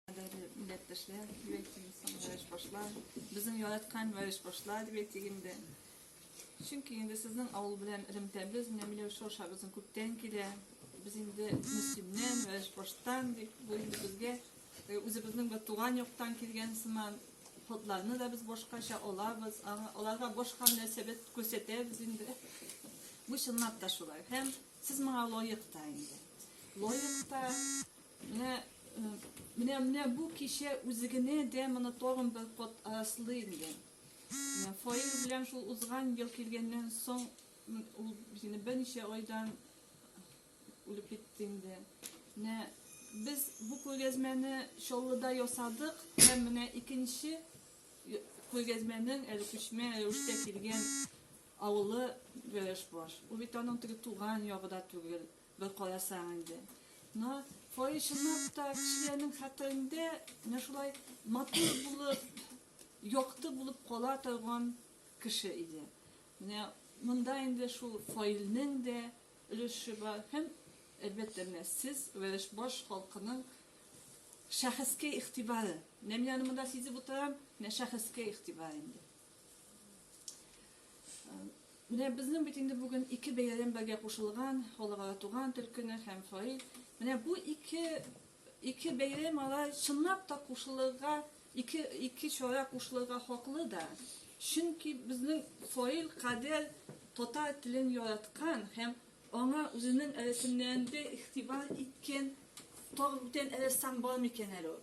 Кадәрле милләттәшләр, дип әйтим, соңгы башлар. Безнең яраткан вариш башлар, дип әйтик инде. Чөнки инде сезнең авыл белән элемтәбез, менә Миләүшә аша безнең күптән килә. Без инде Мөслимнән, вариш баштан, дип бу инде безгә э, үзебезнең бер туган яктан килгән сыман ходларны да без башкача алабыз, аңа- аларга башка мөнәсәбәт күрсәтәбез инде. Бу чынлап та шулай. Һәм сез моңа лаек та инде. Лаек та, Менә, менә, менә бу кичә үзегенә дә моны тагын бер кат араслыйм, дигән. Фаил белән шул узган ел килгәннән соң ул сине берничә айдан үлеп китте инде. Менә без бу күргәзмәне Чаллыда ясадык һәм менә икенче күргәзмәнең әле күчмә рәвештә килгән авылы Гәрәшбаш. Ул бит аның теге туган ягы да түгел. Бер карасаң инде. Но кое чынлап та кешеләрнең хәтерендә менә шулай матур булып, якты булып кала торган кеше иде. Менә монда инде шул Фаилнең дә өлеше бар һәм әлбәттә менә сез Вәрешбаш халкының шәхескә игътибары. Менә мин аны монда сизеп утырам, менә шәхескә игътибар инде. Менә безнең бит инде бүген ике бәйрәм бергә кушылган, халыкара туган тел көне һәм фаил. Менә бу ике ике бәйрәм ала чынлап та кушылырга, ике ике чара кушылырга хаклы да. Чөнки безнең фаил кадәр татар телен яраткан һәм аңа үзенең рәсемнәрендә игътибар иткән тагын бүтән рәссам бар микән әле ул?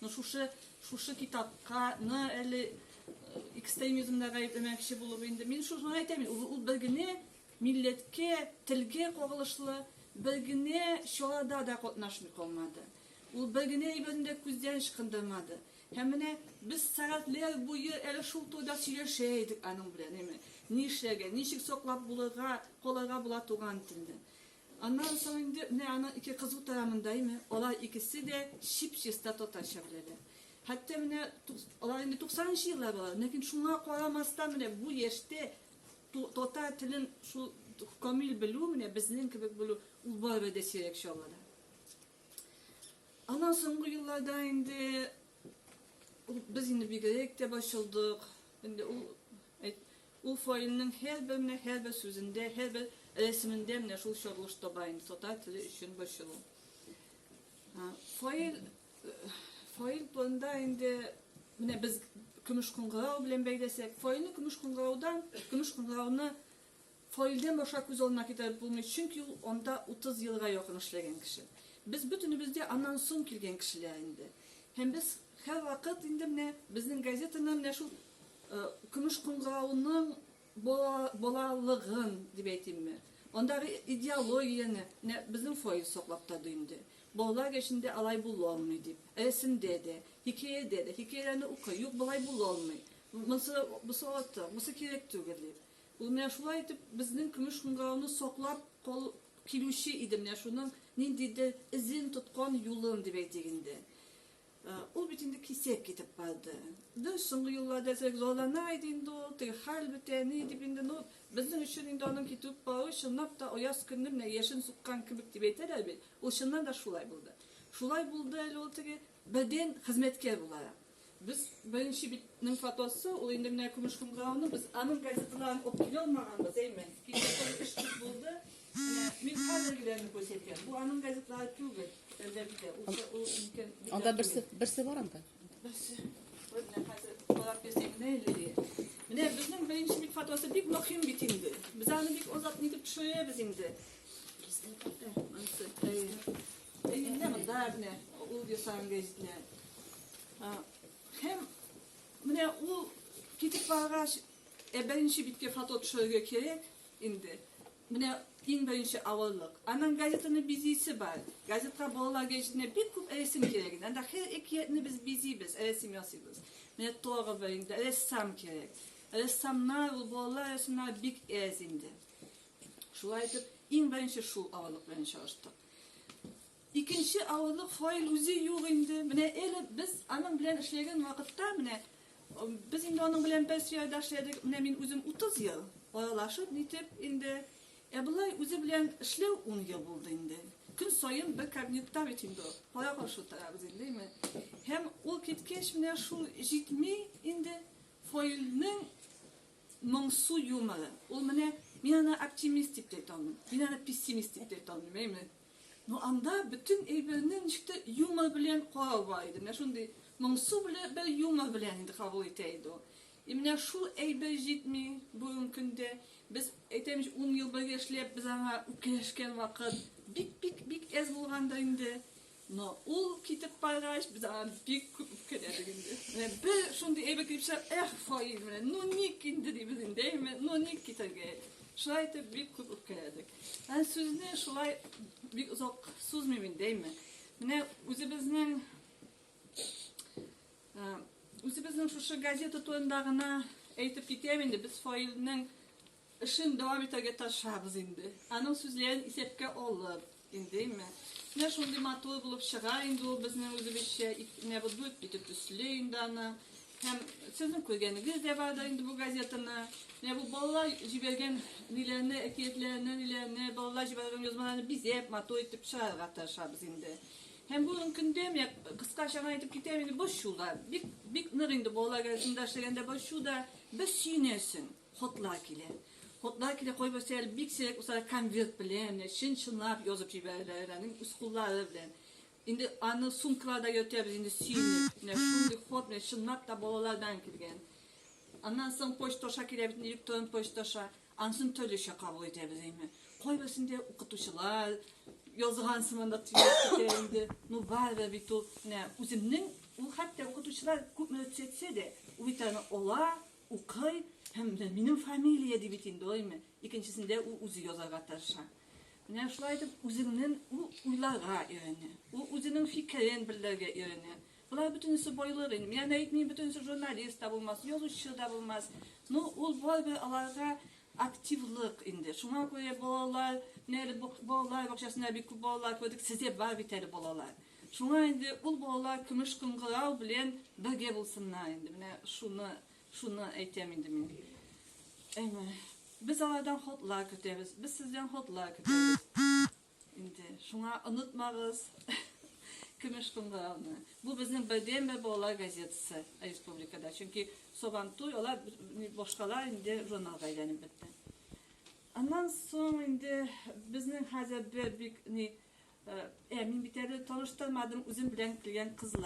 Ну шушы шушы китапка ны әле экстремизмда гаепләмәкче булып инде мин шуны әйтәм ул, ул бер генә милләткә телгә кагылышлы бер генә чарада да катнашмый калмады ул бер генә әйберне дә күздән ычкындырмады һәм менә без сәгатьләр буе әле шул турыда сөйләшә идек аның белән әйме ни эшләргә ничек саклап булырга калырга була туган телне Аннан соң инде менә аның ике кызу тарамындаймы, алар икесе дә чип-чиста татарча беләләр. Хәтта менә алар инде туксанынчы еллар балалары, ләкин шуңа карамастан менә бу яшьтә татар телен шул камил белү, менә безнең кебек белү, ул барыбер дә сирәк чаллыда. Аннан соңгы елларда инде без инде бигрәк тә борчылдык. Инде ул Ул фаилнең һәрбер менә һәрбер сүзендә, һәрбер рәсемендә менә шул чорылыш таба инде, татар теле өчен борчылу. Фаил, фаил турында инде менә без көмеш кыңгырау белән бәйләсәк, фаилне көмеш кыңгыраудан, көмеш кыңгырауны фаилдән башка күз алдына китереп булмый, чөнки ул анда 30 елга якын эшләгән кеше. Без бөтенебез дә аннан соң килгән кешеләр инде. Һәм без һәрвакыт инде менә безнең газетаны менә шул Көмеш кыңгыравының балалыгын дип әйтимме, андагы идеологияне менә безнең фойе саклап торды инде. Балалар яшендә алай була алмый дип. Рәсемдә дә, хикәядә дә, хикәяләрне укый, юк, болай була алмый, монсы, бусы артык, бусы кирәк түгел дип. Ул менә шулай итеп безнең көмеш кыңгыравны саклап килүче иде менә шуның ниндидер эзен тоткан, юлын дип әйтик инде. Ул бит инде кисәк китеп калды. Без соңгы елларда әзрәк зарлана иде инде ул, теге хәл бетә, ни дип инде, ну, безнең өчен инде аның китеп калуы чынлап та аяз көнне менә яшен суккан кебек дип әйтәләр бит, ул чыннан да шулай булды. Шулай булды әле ул теге бердәм хезмәткәр буларак. Без беренче бит ның фотосы, ул инде менә көмеш кымгыраулы, без аның газеталарын алып килә алмаганбыз, әйме? Кичә соң эш күп булды. Мин хәзергеләрне күрсәтәм. Бу аның газеталары түгел. Анда берсе, берсе бар анда. Берсе. Менә хәзер карап бирсәң генә әле. Менә безнең беренче бит фотосы бик мөһим бит инде. Без аны бик озак нитеп төшерәбез инде. Әйдә монда менә ул ясаган гәҗитләр. Һәм менә ул китеп баргач, ә беренче биткә фото төшерергә кирәк инде. Менә иң беренче авырлык. Аннан газетаны бизисе бар. Газетка балалар гәҗитенә бик күп рәсем кирәк иде. Анда һәр әкиятне без бизибез, рәсем ясыйбыз. Менә Торово инде, рәссам кирәк. Рәссамнар, ул балалар рәсемнары бик әз инде. Шулай итеп, иң беренче шул авырлык белән чагыштык. Икенче авырлык фаил үзе юк инде. Менә эле без аның белән эшләгән вакытта, менә без инде аның белән бер сыяда эшләдек. Менә мин үзем 30 ел аралашып нитеп инде. Ә болай үзе белән эшләү 10 ел булды инде. Көн саен бер кабинетта бит инде кара каршы утырабыз инде, әйме. Һәм ул киткәч менә шул җитми инде фаилнең моңсу юморы. Ул менә мин аны оптимист дип әйтә алмыйм. Мин аны пессимист дип әйтә алмыйм, әйме. Ну анда бөтен әйберне ничек тә юмор белән карава иде. Менә шундый моңсу белән бер юмор белән инде кабул итә иде ул. И менә шул әйбер җитми бүгенге көндә. Без әйтәм, 10 ел бергә эшләп, без аңа үпкәләшкән вакыт бик-бик бик әз булганда инде. Но ул китеп баргач, без аңа бик күп үпкәләдек инде. Менә бер шундый әйбер килеп чыгар, эх, фаил, менә ну ник инде дибез инде, әйме, ну ник китәргә? Шулай итеп бик күп үпкәләдек. Ә сүзне шулай бик озак сузмыйм инде, әйме. Менә үзебезнең үзебезнең шушы газета турында гына әйтеп китәм инде, без фаилнең эшен дәвам итәргә тырышабыз инде. Аның сүзләрен исәпкә алып, индеме? Менә шундый матур булып чыга инде ул безнең үзебезчә, менә бу дүрт бите төсле инде аны. Һәм сезнең күргәнегез дә бар да инде бу газетаны. Менә бу балалар җибәргән ниләрне, әкиятләрне, ниләрне, балалар җибәргән язмаларны бизәп, матур итеп чыгарырга тырышабыз инде. Һәм бүгенге көндә менә кыскача гына әйтеп китәм инде борчу да. Бик бик нык инде балалар газетында эшләгәндә борчу да бер сөенәсең. Хотлар килә. Хотлар килә кайберсе әле бик сирәк булса конверт белән, чын-чынлап язып җибәрәләр, үз куллары белән. Инде аны сумкаларда йөртәбез инде сөенеп. Менә шундый ход, менә чынлап та балалардан килгән. Аннан соң почта аша килә бит, электрон почта аша. Ансын төрлечә кабул итәбез инде. Кайберсендә укытучылар язган сыманлык тиләр итә инде. Ну барыбер бит ул менә үземнең ул хәтта укытучылар күпме дә төзәтсә дә, ул бит аны ала, укый һәм менә минем фамилия ди бит инде, ой, менә. Икенчесендә ул үзе язарга тырыша. Менә шулай итеп үзеңнен ул уйларга өйрәнә. Ул үзенең фикерен белдерергә өйрәнә. Болар бөтенесе байлык инде. Мин аны әйтмим, бөтенесе журналист та булмас, язучы да булмас. Ну, ул барыбер аларга активлык инде. Шуңа күрә балалар, менә әле балалар бакчасында бик күп балалар күрдек, сездә бар бит әле балалар. Шуңа инде ул балалар көмеш кыңгырау белән бергә булсыннар инде. Менә шуны Шуны әйтәм инде мин. Әйме, без алардан хотлар көтәбез, без сездән хотлар көтәбез. Инде шуңа онытмагыз. Көмеш кымрауны. Бу безнең бердән бер балалар газетасы республикада. Чөнки Сабантуй, алар башкалар инде журналга әйләнеп бетте. Аннан соң инде безнең хәзер бер бик ни ә мин бит әле таныштырмадым үзем белән килгән кызлар